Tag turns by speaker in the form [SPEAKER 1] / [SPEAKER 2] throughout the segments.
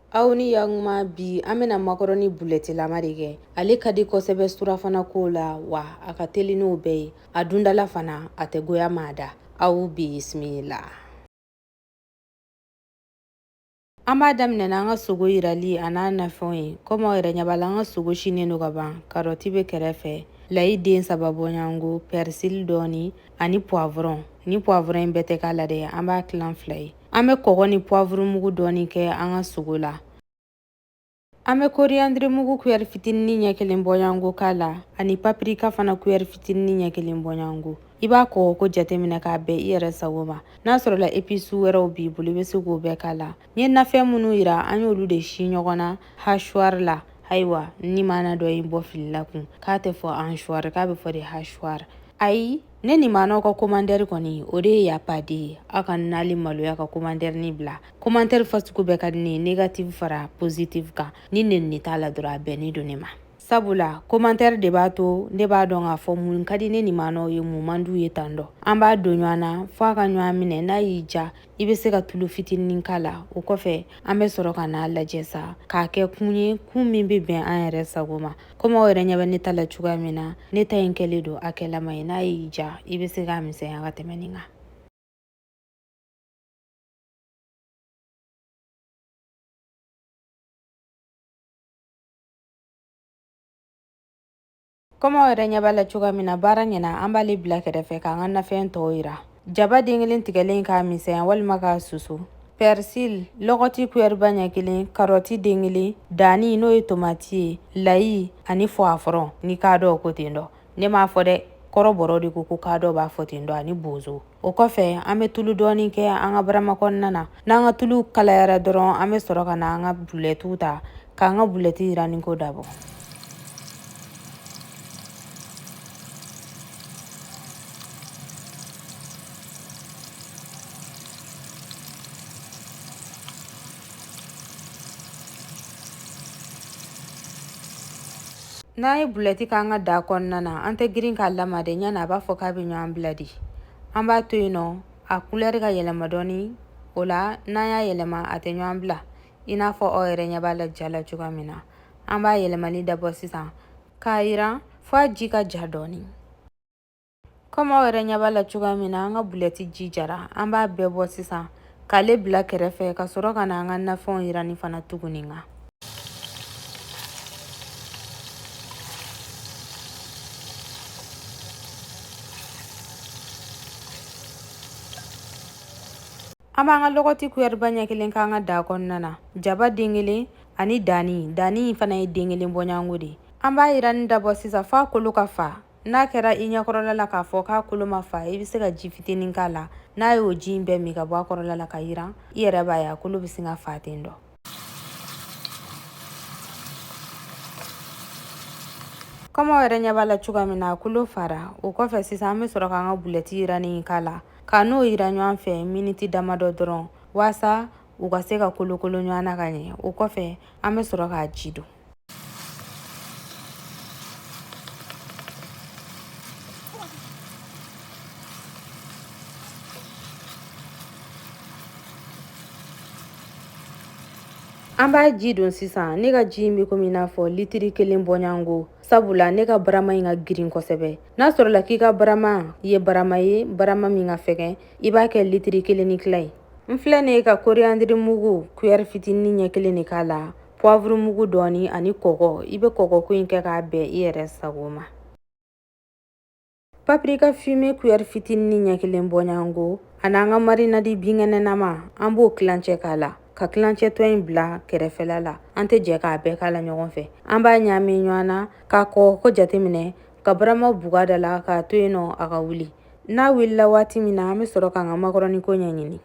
[SPEAKER 1] Aw ni yakuma bi an bɛna makɔrɔni bulɛtilama de kɛ ale ka di kosɛbɛ surafana ko la wa a ka teli n'o bɛɛ ye a dundala fana a tɛ goya maa da aw bisimila an b'a daminɛ an ka sogo yirali a n'a nafɛnw ye komi aw yɛrɛ ɲɛ b'a la an ka sogo sinen don ka ban karɔti bɛ kɛrɛfɛ layi den saba bɔɲɔgɔnko pɛrisili dɔɔni ani puwavɔrɔn ni puwavɔrɔn in bɛɛ tɛ k'a la dɛ an b'a tilan fila ye An bɛ kɔgɔ ni puwavurumugu dɔɔni kɛ an ka sogo la an bɛ koriyandirimugu kuyɛri fitinin ɲɛ kelen bɔɲɔgɔnko k'a la ani papirika fana kuyɛri fitinin ɲɛ kelen bɔɲɔgɔnko i b'a kɔgɔ ko jateminɛ k'a bɛn i yɛrɛ sago ma n'a sɔrɔla episu wɛrɛw b'i bolo i bɛ se k'o bɛɛ k'a la n ye nafɛn minnu yira an y'olu de si ɲɔgɔn na hasuwari la ayiwa n nimaana dɔ ye n bɔ fili la kun k'a tɛ fɔ ansuwari k'a bɛ fɔ de hasuwari ayi ne nimaanaw ka komantɛri kɔni o de ye yapadi ye aw kana ali maloya ka komantɛrinin bila komantɛri fasugu bɛɛ ka di ne ye negatifu fara positifu kan ni nenini t'a la dɔrɔn a bɛnnen don ne ma sabula komantɛri de b'a to ne b'a dɔn k'a fɔ mun ka di ne nimaanaw ye mun man d'u ye tan dɔ an b'a don ɲɔgɔn na fo a ka ɲɔgɔn minɛ n'a y'i ja i bɛ se ka tulu fitinin k'a la o kɔfɛ an bɛ sɔrɔ ka n'a lajɛ sa k'a kɛ kun ye kun min bɛ bɛn an yɛrɛ sago ma komi aw yɛrɛ ɲɛ bɛ ne ta la cogoya min na ne ta in kɛlen don hakɛlama ye n'a y'i ja i bɛ se k'a misɛnya ka tɛmɛ nin kan komi aw yɛrɛ ɲɛ b'a la cogoya min na baara ɲɛna an b'ale bila kɛrɛfɛ k'an ka nafɛn tɔw yira Jaba den kelen tigɛlen k'a misɛnya walima k'a susu pɛrisili lɔgɔti kuyɛriba ɲɛ kelen karɔti den kelen danni n'o ye tomati ye layi ani fɔwafɔrɔn ni kaadɔ ko ten dɔ ne m'a fɔ dɛ kɔrɔbɔrɔ de ko ko kaadɔ b'a fɔ ten dɔ ani bozo o kɔfɛ an bɛ tulu dɔɔni kɛ an ka barama kɔnɔna na n'an ka tulu kalayara dɔrɔn an bɛ sɔrɔ ka na an ka bulɛtiw ta k'an ka bulɛti yiranniko dabɔ n'an ye bulɛti k'an ka da kɔnɔna na an tɛ girin k'a lamaa dɛ ɲani a b'a fɔ k'a bɛ ɲɔgɔn bila de an b'a to yen nɔ a kulɛri ka yɛlɛma dɔɔni o la n'an y'a yɛlɛma a tɛ ɲɔgɔn bila i n'a fɔ aw yɛrɛ ɲɛ b'a la ja la cogoya min na an b'a yɛlɛmani dabɔ sisan k'a yiran f'a ji ka ja dɔɔni Komi aw yɛrɛ ɲɛ b'a la cogoya min na an ka bulɛti ji jara an b'a bɛɛ bɔ sisan k'ale bila kɛrɛfɛ ka sɔrɔ ka na an ka nafɛnw yirani fana tuguni kan an b'an ka lɔgɔti kuyɛriba ɲɛ kelen k'an ka daa kɔnɔna na jaba den kelen ani dani dani fana ye den kelen bɔɲango de an b'a yirani dabɔ sisan f'a kolo ka fa n'a kɛra i ɲɛkɔrɔla la k'a fɔ k'a kolo ma fa i bɛ se ka ji fitinin k'a la n'a y'o ji in bɛɛ min ka bɔ a kɔrɔla la ka yiran i yɛrɛ b'a ye a kolo bɛ sin ka fa ten dɔ komi aw yɛrɛ ɲɛ b'a la cogoya min na a kolo fara o kɔfɛ sisan an bɛ sɔrɔ k'an ka bulɛti yiranin in k'a la k'a n'o yira ɲɔgɔn fɛ miniti damadɔ dɔrɔn waasa u ka se ka kolokolo ɲɔgɔn na ka ɲɛ o kɔfɛ an bɛ sɔrɔ k'a ji don An b'a ji don sisan ne ka ji in bɛ komi i n'a fɔ litiri kelen bɔɲango sabula ne ka barama in ka girin kosɛbɛ n'a sɔrɔla k'i ka barama ye barama ye barama min ka fɛgɛn i b'a kɛ litiri kelen ni tila ye n filɛ nin ye ka koriyandiri mugu kuyɛri fitinin ɲɛ kelen de k'a la puwavuru mugu dɔɔni ani kɔgɔ i bɛ kɔgɔko in kɛ k'a bɛn i yɛrɛ sago ma papirika fime kuyɛri fitinin ɲɛ kelen bɔɲango ani an ka marinadi binkɛnɛnama an b'o kilancɛ k'a la ka kilancɛ tɔ in bila kɛrɛfɛla la an tɛ jɛ k'a bɛɛ k'a la ɲɔgɔn fɛ an b'a ɲaami ɲɔgɔn na k'a kɔgɔko jateminɛ ka barama buga da la k'a to yen nɔ a ka wuli N'a wulila waati min na an bɛ sɔrɔ k'an ka makɔrɔni ko ɲɛɲini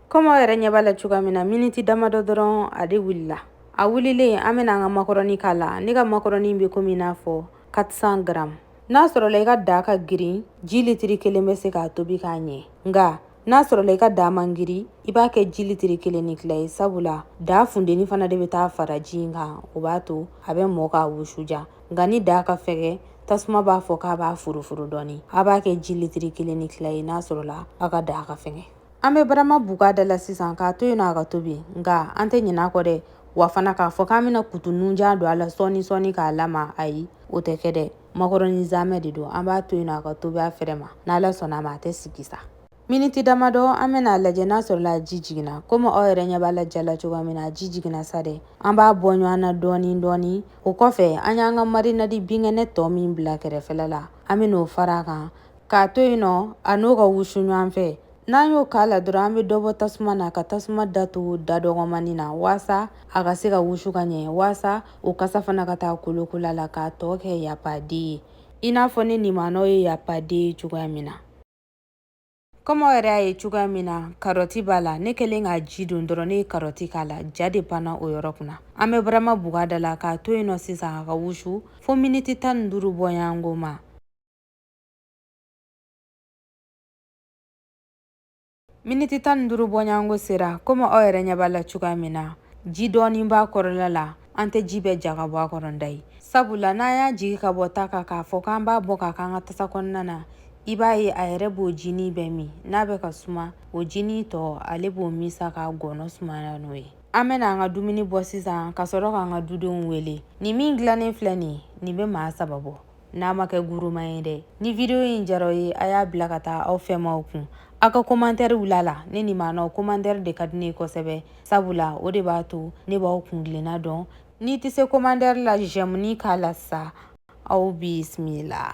[SPEAKER 1] komi aw yɛrɛ ɲɛ b'a la cogoya min na miniti damadɔ dɔrɔn a de wulila a wulilen an bɛna an ka makɔrɔni k'a la ne ka makɔrɔni bɛ komi i n'a fɔ 400 garamu n'a sɔrɔla i ka daa ka girin ji litiri kelen bɛ se k'a tobi k'a ɲɛ nka n'a sɔrɔla i ka daa man girin i b'a kɛ ji litiri kelen ni tila ye sabula daa fundeni fana de bɛ taa fara ji in kan o b'a to a bɛ mɔ k'a wusuja nka ni daa ka fɛgɛ tasuma b'a fɔ k'a b'a furufuru dɔɔni a b'a kɛ ji litiri kelen ni tila ye n'a sɔrɔla a ka daa ka fɛgɛ an bɛ barama buga da la sisan k'a to yen nɔ a ka tobi nka an tɛ ɲinɛ a kɔ dɛ wa fana k'a fɔ k'an bɛna kutu nunjan don a la sɔɔni sɔɔni k'a lama ayi o tɛ kɛ dɛ makɔrɔni zamɛ de don an b'a to yen nɔ a ka tobi a fɛrɛ ma n'Ala sɔnna a ma a tɛ sigi sa miniti damadɔ an bɛna a lajɛ n'a sɔrɔla ji jiginna komi aw yɛrɛ ɲɛ b'a la ja la cogoya min na ji jiginna sa dɛ an b'a bɔ ɲɔgɔn na dɔɔni dɔɔni o kɔfɛ an y'an ka marinadi binkɛnɛ tɔ min bila kɛrɛfɛla la an bɛn'o fara a kan k'a to yen nɔ a n'o ka wusu ɲɔgɔn fɛ n'an y'o k'a la dɔrɔn an bɛ dɔ bɔ tasuma na ka tasuma datugu da dɔgɔmani na waasa a ka se ka wusu ka ɲɛ waasa o kasa fana ka taa kolokola la k'a tɔ kɛ yapaden ye i n'a fɔ ne nimanɔw ye yapaden ye cogoya min na komi aw yɛrɛ y'a ye cogoya min na karɔti b'a la ne kɛlen k'a ji don dɔrɔn ne ye karɔti k'a la ja de panna o yɔrɔ kunna an bɛ barama buga da la k'a to yen nɔ sisan a ka wusu fo miniti tan ni duuru bɔɲɔgɔnko ma miniti tan ni duuru bɔɲɔgɔnko sera komi aw yɛrɛ ɲɛ b'a la cogoya min na ji dɔɔnin b'a kɔrɔla la an tɛ ji bɛɛ ja ka bɔ a kɔrɔ da ye sabula n'an y'a jigi ka bɔ ta kan k'a fɔ k'an b'a bɔ k'a k'an ka tasa kɔnɔna na i b'a ye a yɛrɛ b'o jinin bɛɛ min n'a bɛ ka suma o jinin tɔ ale b'o min sa k'a gɔnɔ sumaya n'o ye an bɛna an ka dumuni bɔ sisan ka sɔrɔ k'an ka dudenw wele nin min dilannen filɛ nin nin bɛ maa saba bɔ n'a ma kɛ guruma ye dɛ ni video in diyara aw ye a y'a bila ka taa aw fɛmaw kun aw ka komantɛri bila a la ne nimanɔw komantɛri de ka di ne ye kosɛbɛ sabula o de b'a to ne b'aw kungilenna dɔn n'i tɛ se komantɛri la jɛmuni k'a la sa aw bisimila